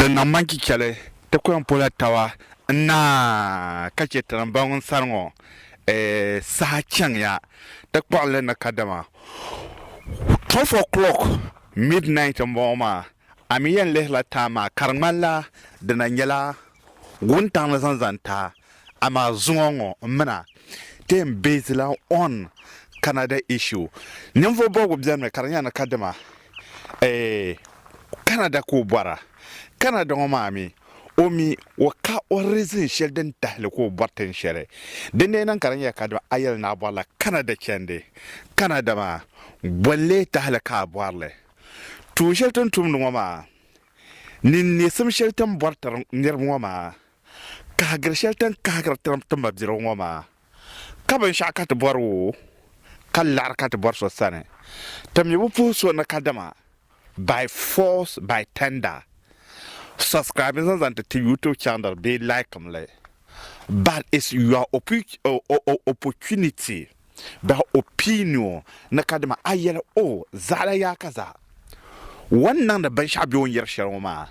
Din niŋ ma ni chichɛli ti kuyɔŋ pola tawa n-naai ka chɛ tinim bɔŋ n sani ŋɔ saha chaŋya ti kpuɣinli ni kadama twelve o'clock, midnight, m-bɔŋɔ maa. A mi yɛn lihirila time maa ka di ŋmanila di na nyɛla Wuntaŋli zaŋ zani taa, amaa zuŋɔ ŋɔ n mina ti yɛn beesila on Canada issue. Ninvuɣu bɔbigu bɛnimi ka di nyɛla ni kadima Canada ka o bɔra. Canada ŋɔ maa mi o mi o ka o reason shɛli din tahili ka o bɔri tin shɛli. Din dee niŋ ka di nyɛla kadima a yɛli ni a bɔrila Canada chandi Canada maa bɔli lee tahili ka a bɔrili. Tuun shɛli ti ni tumdi ŋɔ maa ni n neesim shɛli ti ni bɔri tiri niriba ŋɔ maa, kahigiri shɛli ti ni kahigiri tiri ti mabidirigu ŋɔ maa, ka binshɛɣu ka ti bɔri o, ka laɣiri ka ti bɔri so sani, ti mi bi puhi so ni kadama by force by tender subscribing zaŋ zaŋ ti ti YouTube channel bee liking li but it's your opportunity. Beh o pii ni o ni kadima a yel o, Zaɣila yaa ka zaa wa ni niŋdi binshɛɣu be o ni yeri shɛli ŋɔ maa,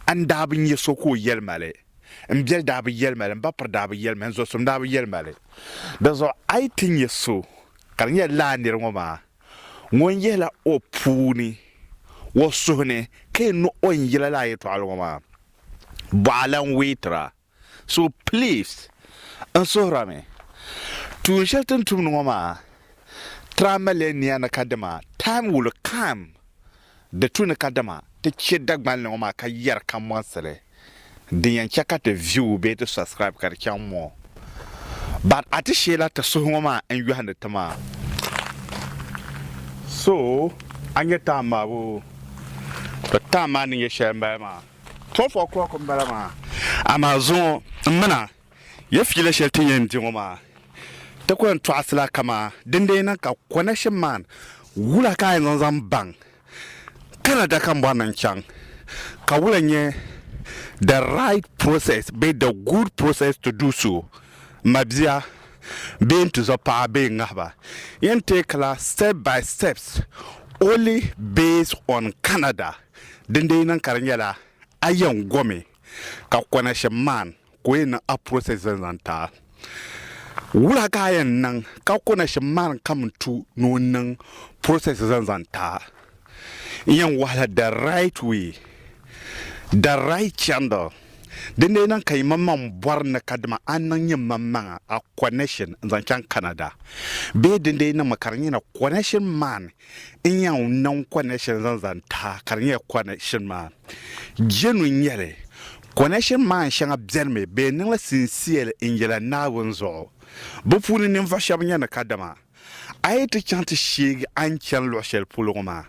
a ni daa bi nya so ka o yeli ma li, m biɛli daa bi yeli ma li, m ba piri daa bi yeli ma li, n zɔsim daa bi yeli ma li. Dinzuɣu a yi ti nya so ka di nyɛla lala nir ŋɔ maa ŋun yihila o puu ni o suhu ni ka yɛn niŋ o ni yila lala yɛtɔɣili ŋɔ maa, bɔh a lan weetira. So please n suhirami tuun shɛli ti ni tumdi ŋɔ maa try maliya nia ni kadama time will come di tu ni kadama ti chɛ Dagban li ŋɔ maa ka yɛri ka mɔɣisi li din yɛn chɛ ka ti view bee ti subscribe ka di chaŋ more but a ti sheela ti suhu ŋɔ maa n yɔhindi ti maa so a nyɛ time maa boo to time maa ni nyɛ shɛli m bala maa. Twelve o'clock n bala maa, amaa zuŋɔ m mina ya fiila shɛli ti yɛn di ŋɔ maa ti ku yɛn tɔɣisi la ka maa dindee niŋ ka connection man wula ka a yɛn zaŋ zaŋ baŋ Canada ka m bɔri ni n chaŋ ka wula n nyɛ the right process bee the good process to do so ma bia bee n tizɔ paɣa bee n ŋahiba yɛn take la step by steps only based on Canada. Dindee na ka di nyɛla a yɛn gomi ka konashim maan ka o yɛn niŋ a process zan zaŋ ti a. Wula ka a yɛn niŋ ka konashim maan kamin tu ni o niŋ process zan zaŋ ti a? N yɛn wahila the right way, the right channel. Dindee na ka yimaŋmaŋ bɔri ni kadama a niŋ yimaŋmaŋa a konashim n zaŋ chaŋ Canada bee dindee na mi ka di nyɛla konashim maan n yan niŋ connection zaŋ zaŋ taha ka di nyɛla connection maa jenu n-nyɛli. Connection maan shɛŋa benimi bɛ niŋ li sincerely n yela Naawuni zuɣu. Bɛ puuni ninvuɣu shɛba nyɛ ni kadama a yi ti chaŋ ti sheegi a ni chani luɣi shɛli polo ŋɔ maa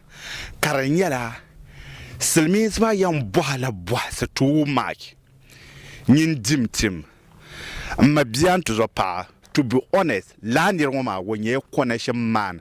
ka di nyɛla silimiinsi maa yan bɔhi la bɔhisi too much nyin dim tim m ma bia n ti zo paɣa. To be honest, lala nira ŋɔ maa o nyɛla connection man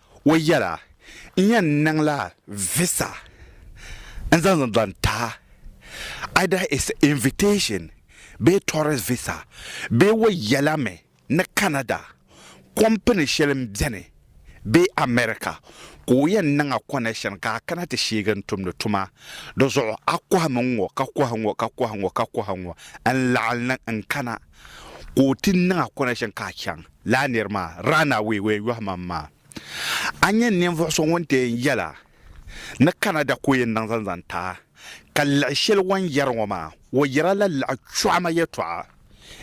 O yɛla, N yɛn niŋla visa n-zaŋ zaŋ ti a, either it's invitation bee tourist visa bee o yɛla mi ni Canada kɔmpini shɛli m-beni bee America ka o yɛn niŋ a connection ka a kana ti sheegi n-tumdi tuma di zuɣu. A kɔhimi ŋ-ŋɔ ka kɔhi ŋ-ŋɔ ka kɔhi ŋ-ŋɔ ka kɔhi ŋ-ŋɔ n-laɣim ni n-kana ka o ti niŋ a connection ka a chaŋ. Laa nir maa, Run-away where yɔhi ma m ma. A nyɛ ninvuɣ so ŋun deen yɛla ni Canada ka o yɛn niŋ zaŋ zaŋ ti a, ka liɣi shɛli o ni yɛri ŋɔ maa, o yɛra la liɣi chɔɣima yɛtɔɣa.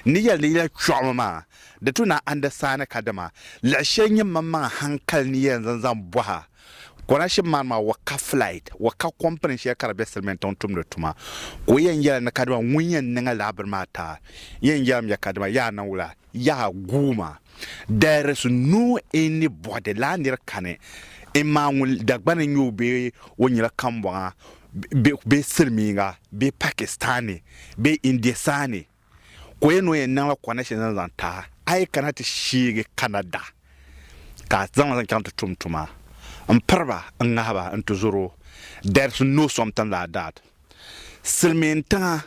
N ni yɛli ni yi lahi chɔɣimi ma, di tu na andi saani ka dama liɣi shɛli nyɛ maŋmaŋa hankali ni yɛn zaŋ zaŋ bɔhi a. Konaship man maa o ka flight, o ka kɔmpini shɛli ka di be Silimiintiŋ tumdi tuma, ka o yɛn yɛla ni kadama ŋun yɛn niŋ a lala bini maa ti a, n yɛn yɛlim ya kadama yaa niŋ wula? Yaha guuma dayarisi nuu n ni bɔhidi laa nir kani n maa ŋun Dagbani nyɛ o bee o nyɛla kambɔŋa bee silimiiŋa bee Pakistani bee Indiasani ka o yɛn ni o yɛn niŋla connection zaŋ zaŋ ti a, a yi kana ti sheegi Canada ka a zaŋ ma zaŋ chaŋ ti tum tuma m piri ba n ŋahi ba n tizɔro dayarisi no something like that. Silimiin tiŋa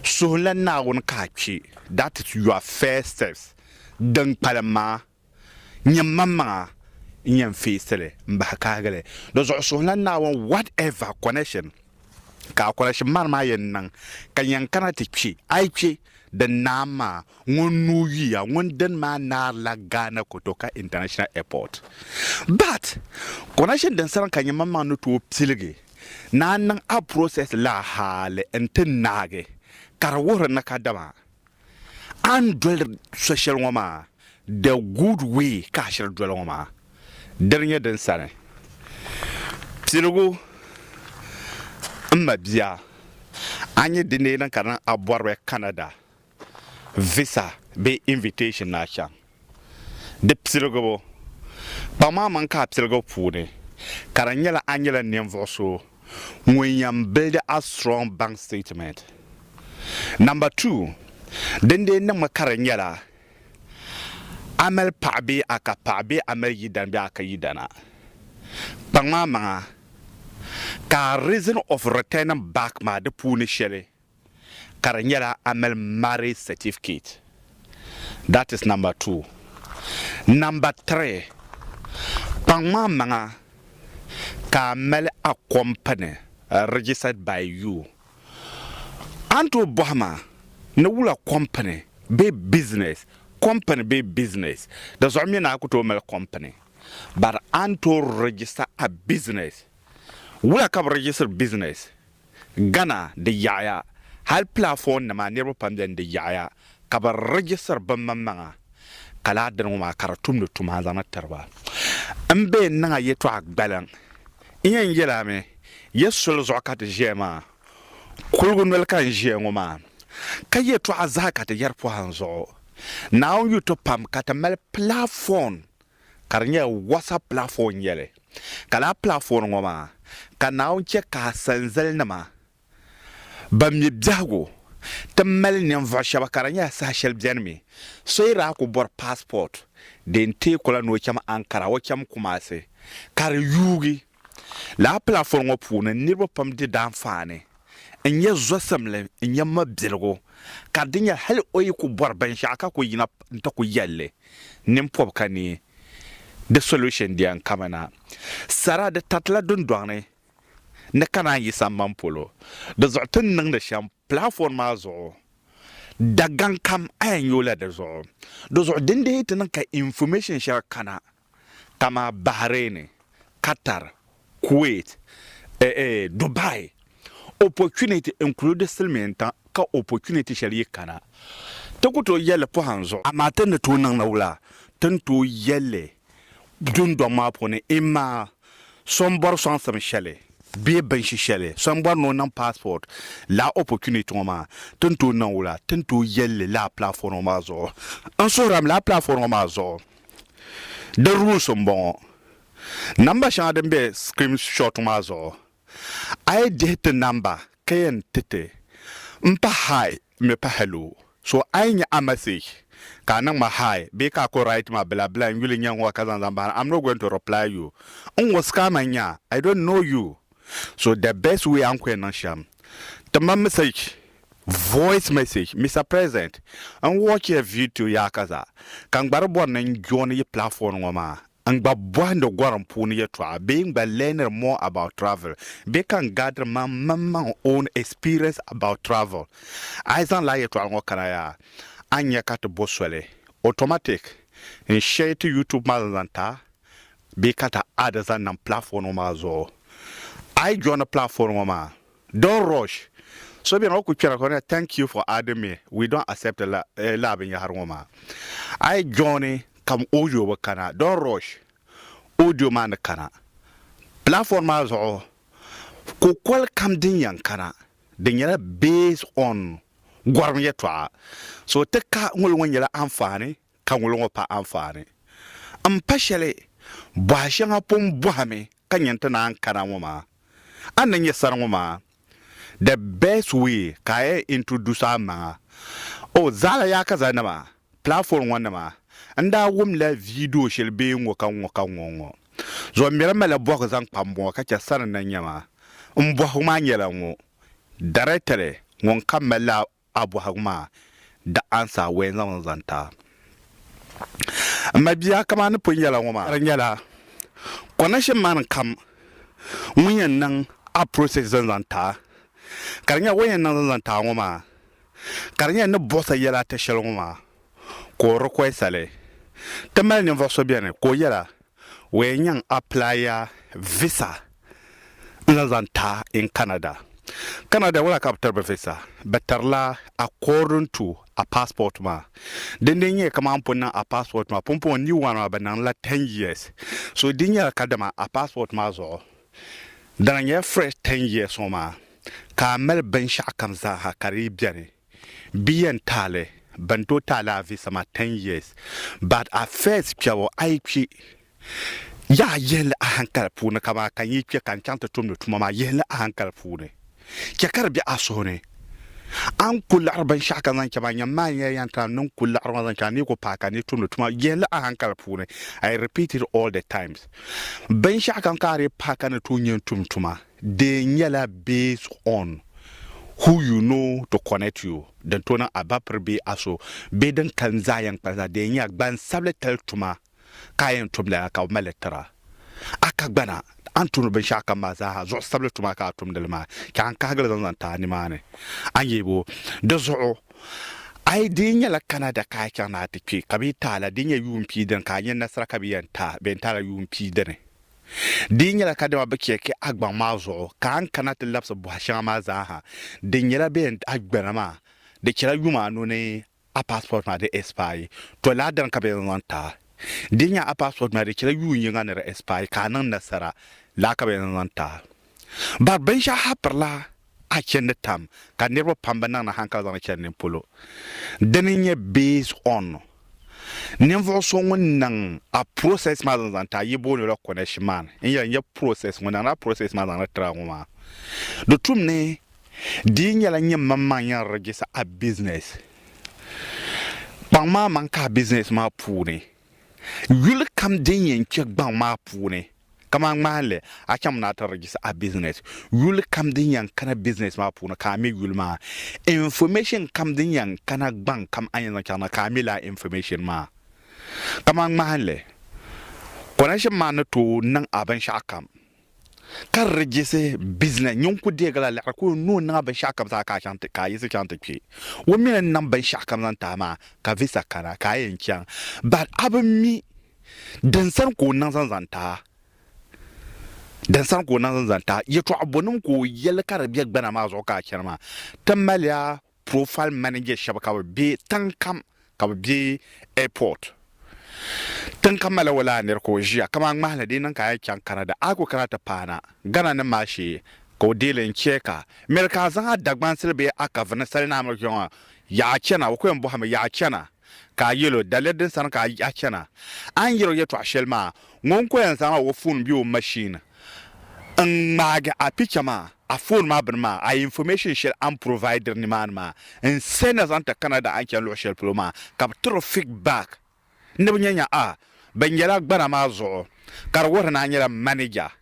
suhu la Naawuni ka a kpi, that is your first steps, din kpalim maa nyɛ manmaŋa n-yɛn feesi li m-bahi kahigi li. Di zuɣu suhu la Naawuni whatever connection ka a connection man maa yɛn niŋ ka yɛn kana ti kpi, a yi kpi din naam maa, ŋun nuu yuya, ŋun dini maa naari la Ghana Kotoka International Airport. But connection din saran ka nyɛ manmaŋa ni tooi piligi Naa niŋ a process la hali n ti naagi ka di wuhiri ni ka dama a ni doli so shɛli ŋɔ maa the good way ka a shiri doli ŋɔ maa dini nyɛ din sani piligu m ma bia a nyɛ di neei niŋ ka di niŋ a bɔriba Canada visa bee invitation ni a chaŋ di piligibu. Kpaŋ maa maŋ ka a piligibu puuni ka di nyɛla a nyɛla ninvuɣu so ŋun yɛn buildi a strong bank statement. Number two, din dee niŋmi ka di nyɛla a mali paɣa bee a ka paɣa bee a mali yidana bee a ka yidana. Kpaŋ maa maŋa ka a reason of returning back maa di puuni shɛli ka di nyɛla a mali marriage certificate. That is number two. Number three, kpaŋm a maŋa ka a mali a company registered by you. A ni tooi bɔhi ma ni wula company bee business, company bee business, di zuɣu mi ni a ku tooi mali company. But a ni tooi register a business. Wula ka bi register business? Ghana di yaɣiya, hali pilaafɔɔn nima niriba pam beni di yaɣiya ka bɛ registir bɛ maŋ maŋa ka laa dini ŋɔ maa ka di tumdi tuma n zaŋna tiri ba. M bɛ yɛn niŋ a yɛtɔɣa gbaliŋ n yɛn yɛli a mi ya soli zuɣu ka ti ʒiya maa, kuligu noli ka n ʒiya ŋɔ maa ka yɛtɔɣa zahi ka ti yɛri pɔhim zuɣu Naawuni yu ti pam ka ti mali pilaafɔɔn ka di nyɛla WhatsApp platform n-nyɛli, ka lala platform ŋɔ maa ka Naawuni chɛ ka asanzalinima ban mi biɛhigu ti mali ninvuɣ shɛba ka di nyɛla saha shɛli beni mi so yi daa ku bɔri passport din teeku la ni o cham Ankara o cham Kumasi ka di yuugi. Lala pilafɔli ŋɔ puuni niriba pam di daanfaani n-nyɛ zɔsimli n-nyɛ mabiligu ka di nyɛla hali o yi ku bɔri binshɛɣu ka ku yiŋa n-ti ku yɛli li ninpɔbi ka ni di solution diya n-kami na. Sara di taritila dundɔŋ ni ni ka naan yi sambani polo. Di zuɣu ti ni niŋdi shɛm pilafɔli maa zuɣu Dagaŋ kam a yɛn nyooi la di zuɣu. Di zuɣu din dii ti niŋ ka information shɛŋa kana. kamani Bahrain, Qatar, Kuwait, eh eh Dubai opportunity include silimiintiŋ ka opportunity shɛli yi kana ti ku tooi yɛli pɔhim zuɣu, amaa ti ni tooi niŋ ni wula ti ni tooi yɛli dundɔŋ maa puuni imma so n bɔri sɔŋsim shɛli bee binshi shɛli so n bɔri ni o niŋ passport lala opportunity ŋɔ maa ti ni tooi niŋ wula ti ni tooi yɛli li lala platform ŋɔ maa zuɣu n suhira mi lala platform ŋɔ maa zuɣu. Di rules n bɔŋɔ, Number shɛŋa din be screen shot maa zuɣu a yi dihi ti number ka yɛn ti ti m pa hi mi pa hello so a yi nya a message ka a niŋ ma hi bee ka a ku write ma bila bila n yuli nya n ŋɔ ka zaŋ zaŋ bahina am not going to reply you n ŋɔ scammer n nya I don't know you so the best way a ni ku yɛn niŋ shɛm ti ma message Voice message, Mister President, n watch ya video yaa ka zaa ka n gba di bɔri ni n join yi platform ŋɔ maa n gba bɔhindi gorim puuni yɛtɔɣa bee n gba learniri more about travel bee ka n gaadiri man mini man own experience about travel. A yi zaŋ lala yɛtɔɣa ŋɔ kana yaa a ni nya ka ti bo soli automatic n share ti YouTube maa zaŋ zaŋ ta bee ka ti add zaŋ niŋ platform ŋɔ maa zuɣu. A yi joini platform ŋɔ maa Don't rush. So beni o ku kpɛra ka o na thank you for adding me, we don't accept lala binyɛhiri ŋɔ maa. A yi joini kam audio bi kana. Don't rush. Audio maa ni kana. Platform maa zuɣu kukoli kam din yɛn kana di nyɛla based on gɔrim yɛltɔɣa. So ti ka ŋuli ŋɔ nyɛla anfaani ka ŋuli ŋɔ pa anfaani m pa shɛli bɔha shɛŋa pun bɔhimi ka nya nti naan kana ŋɔ maa. A ni nya sani ŋɔ maa, the best way ka a yɛn introduce a maŋa. Oh, zaɣila yaakaza nima, platform ŋɔ nima, n daa wum la video shɛli bee ŋɔ ka ŋɔ ka ŋɔ ŋɔ zuɣu n miri mali bɔhigu zaŋ kpa m bɔŋɔ ka chɛ sani na nyama. M bɔhigu maa nyɛla ŋɔ, Directly ŋun ka mali la A bɔhigu maa di answer wee n-zaŋ li zaŋ ti a. M ma bia kaman ni pun yɛla ŋɔ maa ka di nyɛla connection man kam ŋun yɛn niŋ a process zaŋ zaŋ ti a ka di nyɛla o ni yɛn niŋ zaŋ zaŋ ti a ŋɔ maa ka di nyɛla ni bɔhis a yɛla a ti shɛli ŋɔ maa ka o request a li. Ti mali ninvuɣ so beni ka o yɛla Where n yan apply ya visa n zaŋ zaŋ ta in Canada. Canada wala ka bɛ tiri ba visa, bɛ tiri la according to a passport maa. Din dee nyɛla kaman n pun niŋ a passport maa pumpɔŋɔ new one maa bɛ niŋ la ten years. So di nyɛla kadama a passport maa zuɣu dana nyɛla fresh ten years ŋɔ maa ka a mali binshɛɣu kam zaa ha ka di yi beni. Bɛ yɛn taali bɛn tooi taali a visa maa ten years but a first kpɛbu a yi kpi yaha yihili ahankali puuni kaman ka n yi kpe ka n chaŋ ti tumdi tuma maa yihili ahankali puuni chɛ ka di be a suhu ni a ni ku liɣiri binshɛɣu ka zaŋ chaŋ maa nyam maa n yɛn yɛn tana ni n ku liɣiri maa zaŋ chaŋ a ni yi ku paai ka n ni tumdi tuma yihili ahankali puuni I repeat it all the times binshɛɣu kam ka a dii paai ka ni tooi nyɛ n tum tuma. Di nyɛla based on who you know to connect you din tooi niŋ Abapir bee Aso bee din kalinli zaa yɛn kpalim zaa di yɛn nyɛla gbansabili tali tuma ka a yɛn tumdi lala ka bɛ mali tira a ka gbana a ni tumdi binshɛɣu kam maa zaa ha zuɣusabili tuma ka a tumdi li maa chɛ a ni kahigi li zaŋ zaŋ ti a nimaani a ni yɛli bo di zuɣu a yi di nyɛla Canada ka a chaŋ ni a ti kpe ka bɛ yi ti a la di nyɛ yuun pia dini ka a nya nasara ka bɛ yɛn ti a bɛ yɛn ti a la yuun pia dini Di yi nyɛla kadama bɛ chɛki a gbaŋ maa zuɣu ka a ni kana ti labisi bɔha shɛŋa maa zaa ha, di nyɛla bɛ yɛn a gbana maa, di chɛla yuma anu ni a passport maa di expire. Tɔ lala dini ka bɛ yɛn zaŋ taai. Di yi nya a passport maa di chɛla yuun yiŋa ni di expire ka a niŋ nasara, lala ka bɛ yɛn zaŋ taai. Bari binshɛɣu ha pirila a chindi tam ka niriba pam bi niŋ ni hankali zaŋdi chani nin polo. Dini n nyɛ based on ninvuɣu so ŋun niŋ a process maa zaŋ zaŋ ti a yi booni o la connection maa ni n yɛli n nyɛ process ŋun niŋdi a process maa zaŋdi tiri a ŋɔ maa. Di tum ni di yi nyɛla nyini mani maŋ yɛn register a business kpaŋ maa maŋ ka a business maa puuni. Yuli kam din yɛn kpɛ gbaŋ maa puuni, kamani ŋmahinli, a chaŋmi ni a ti register a business. Yuli kam din yɛn kana business maa puuni, ka a me yuli maa. Information kam din yɛn kana gbaŋ kam a ni yɛn zaŋ chaŋ na, ka a me lala information maa. Kamani ŋmahinli, connection maa ni tooi niŋ a binshɛɣu kam. ka di di jisi bizina nyun ku deegi la liɣiri kul ni o niŋ a binshɛɣu kam zaa ka a yiɣisi chaŋ ti kpi o mi ni n niŋ binshɛɣu kam zaŋ ti a maa ka visa kana ka a yɛn chaŋ but a bi mi din sani ka o niŋ zaŋ zaŋ ti a din sani ka o niŋ zaŋ zaŋ ti a yɛtɔɣa bɔnim ka o yɛli ka di be gbana maa zuɣu ka a chani maa ti mali a Profile manager shɛba ka bɛ be tiŋ kam ka bɛ be airport tiŋ kam malila walaa nir ka o ʒiya kaman ŋmahili di niŋ ka a yi chaŋ Canada a ku kana ti paana Ghana nim maa shee ka o deei li n chɛ ka miri ka a zaŋ a Dagbansili bee a kavuni salinamiri kpɛŋɔ yaɣa chana o ku yɛn bɔhimi yaɣa chana Ka a yɛl o, Daliya din sani ka a chana? A ni yɛl o yɛtɔɣ shɛli maa, ŋun ko yɛn zaŋ o foon bee o mashin n-ŋmaagi a picha maa, a foon maa bini maa, a information shɛli a ni providiri nimaani maa, n-sɛ na zaŋ ti Canada a ni chani luɣ shɛli polo maa, ka bɛ tiri o feedback ni bɛ nya nya a binyɛla gbana maa zuɣu, ka di wuhiri ni a nyɛla manager.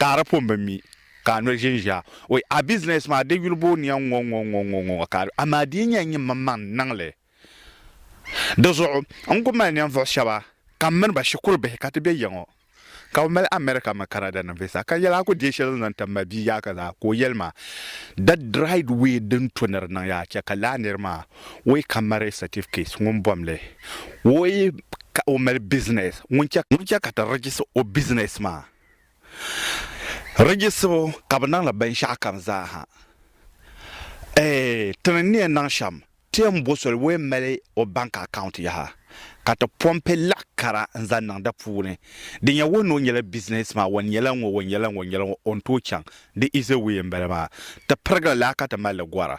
ka a di pun bi mi, ka a noli ʒinʒia. Oi, a bizinɛs maa di yuli booi niɛm ŋɔ ŋɔ ŋɔ ŋɔ ŋɔ ka a di, amaa di yi nyɛla nyimmaŋmaŋ n-niŋ li. Di zuɣu n ku mali ninvuɣ shɛba ka m mini ba shikuru bihi ka ti be ya ŋɔ, ka bɛ mali America mini Canada nim visa, ka yɛli a ku deei shɛli n-zaŋ tam ma bia yaaka zaa, ka o yɛli ma, The dried way din to ni di niŋ ya a chɛ ka lala nir maa woi ka mali certificate ŋun bom li, woi ka o mali business ŋun che ka ti register o business maa. Registibu ka bɛ niŋ li binshɛɣu kam zaa ha. Eeh ti ni ni yɛn niŋ shɛm ti yɛn bo so woi m-mali o bank account yaha ka ti pompi laɣ kara n-zaŋ niŋ di puuni din yɛn wuhi ni o nyɛla business man, o nyɛla ŋɔ, o nyɛla ŋɔ, o nyɛla ŋɔ, o ni tooi chaŋ di easy way m-bala maa. Ti pirigili laa ka ti mali li gɔra.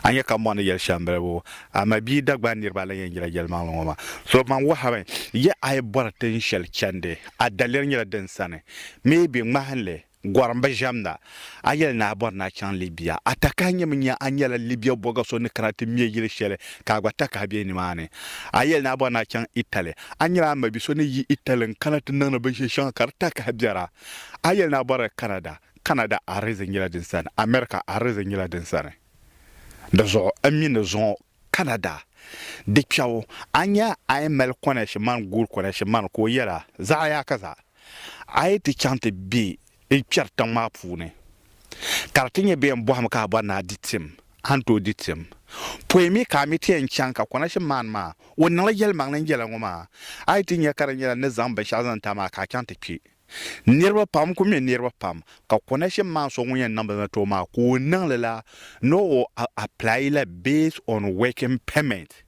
A nya ka mɔɣu ni yɛli shɛm bilibu, amaa bia Dagbani niriba lan yɛn nyɛla yɛlimaŋli ŋɔ maa. So man wɔhimi, Yi a yi bɔri tin shɛli chandi, a daliri nyɛla din sani. Maybe, ŋmahinli, gɔrim bi ʒiɛmda. A yɛli ni a bɔri ni a chaŋ Libya. A takahi nyɛmi nya a nyɛla Libya bɔga so ni kana ti me yili shɛli ka a gba takahi be nimaani. A yɛli ni a bɔri ni a chaŋ Italy. A nyɛla a mabi so ni yi Italy n-kana ti niŋdi binshɛli shɛŋa ka di takahi biɛra. A yɛli ni a bɔri Canada. Canada arizin nyɛla din sani, America arizin nyɛla din sani. Di zuɣu n mi ni zuŋɔ Canada di kpɛbu a nya a yi mali kɔnɛshi mani guuri kɔnɛshi mani ka o yɛla, zaɣa yaaka zaa a yi ti chaŋ ti be n kpɛri tiŋ maa puuni ka di ti nyɛ bɛ yɛn bɔhimi ka a bɔri ni a di tim a ni tooi di tim pɔi mi ka a mi ti yɛn chaŋ ka kɔnɛshi mani maa o niŋli yɛlimaŋli n yɛla ŋɔ maa a yi ti nya ka di nyɛla ni zaŋ binshɛɣu zaŋ ti a maa ka a chaŋ ti kpɛ Niriba pam ku mi niriba pam, ka connection maa so ŋun yɛn niŋ bɛ mɛtɔɔ maa ka o niŋ li la ni o apply la based on working permit.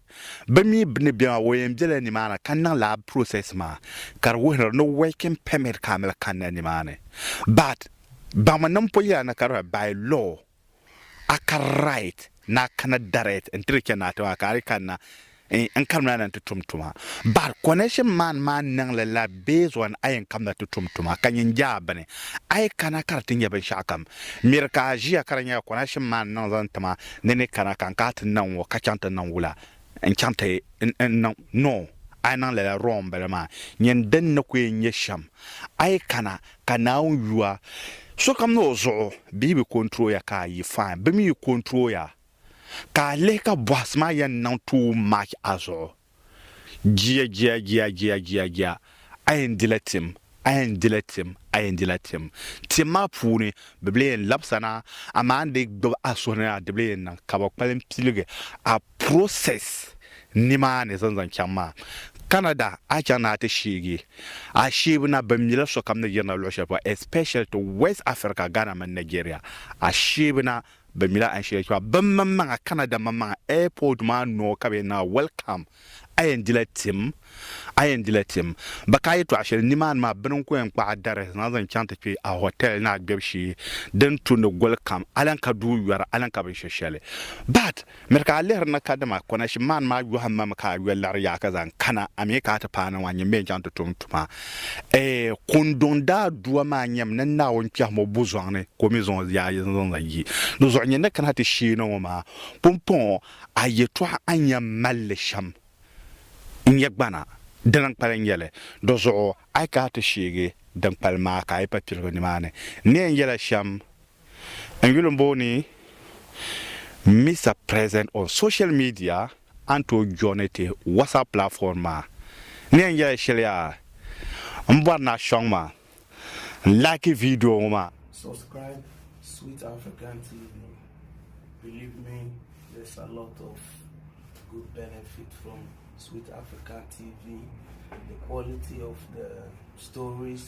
Bɛ mi ni bɛ maa o yɛn bela ni maa ni ka niŋ lab process maa ka di wuhiri ni working permit ka a mali kanna ni maa ni but baŋmi ni m po yɛla ni ka di by law. a kari right ni a kana direct n-tiri chɛ ni a ti maa ka a di kanna n karimla na nti tum tuma. But connection man maa niŋli la based on a yɛn kamda ti tum tuma ka nyin je a bini a yi kana ka di ti nyɛ binshɛɣukam. Miri ka a ʒiya ka di nyɛla connection man niŋ zaŋ ti ma ni ni kana ka n ka ti niŋ ŋɔ ka chaŋ ti niŋ wula? N chaŋ ti n niŋ ni o, a yi niŋ lala rɔɔmbila maa, nyin din ni ku yɛn nyɛ shɛm, a yi kana, ka Naawuni yu a. Sokam ni o zuɣu, bɛ yi bi kɔntiri o ya ka a yi fain, bɛ mi yi kɔntiri o ya, ka a lihi ka bɔhisi maa yɛn niŋ tuun maach a zuɣu. Jia, jia, jia, jia, jia, jia. A yɛn dila tim, a yɛn dila tim, a yɛn dila tim. Tim maa puuni bɛ bili yɛn labisa na, amaa n dii gbibi a suhu ni na di bili yɛn niŋ ka bɛ kpalim piligi a process nimaani zaŋ zaŋ chaŋ maa. Canada a chaŋ ni a ti sheegi a sheebu na bɛ mila sokam ni yirina luɣ shɛli polo especially to West Africa, Ghana mini Nigeria a sheebu na. Bɛ mila a shili kpɛɣu bɛ maŋmaŋa Canada maŋmaŋa airport maa noo ka bɛ yɛn niŋ a welcome a yɛn dila tim a yɛn dila tim bɛ ka a yɛtɔɣa shɛli nimaani maa bini n-ku yɛn kpaɣi dari zaŋ zaŋ chaŋ ti kpe a hotel ni a gbɛbu shee din tu ni goli kam a lan ka duu yɔri a lan ka binshɛshɛli but Miri ka a lihiri ni kadama Konashim maa ni maa yɔhim ma mi ka a yoli laɣiri yaɣa ka zaŋ kana, a mi ka a ti paai na ŋɔ a nyɛmi bee n-chaŋ ti tum tuma? Eeh! Kunduŋ daadua maa nyɛmi ni Naawuni kpɛhim o buzɔŋ ni ka o mi zaŋ o yaɣa yini zaŋ zaŋ yi di zuɣu nyɛ ni kana ti sheeni ŋɔ maa pumpɔŋɔ, a yɛtɔɣa a ni yɛn mali li shɛm n-nyɛ gbana dini n-kpalim nyɛ li, di zuɣu a yi kana ti sheegi din kpalim maa ka a yi pa piligu nimaani ni yɛn yɛla shɛm N yuli m-booi ni Mister President on social media an tooi joini ti WhatsApp platform maa. N ni yɛn yɛli shɛli yaa m bɔri ni a sɔŋ ma n like video ŋɔ maa. Subscribe Sweet African TV believe me there's a lot of good benefit from Sweet African TV the quality of the stories.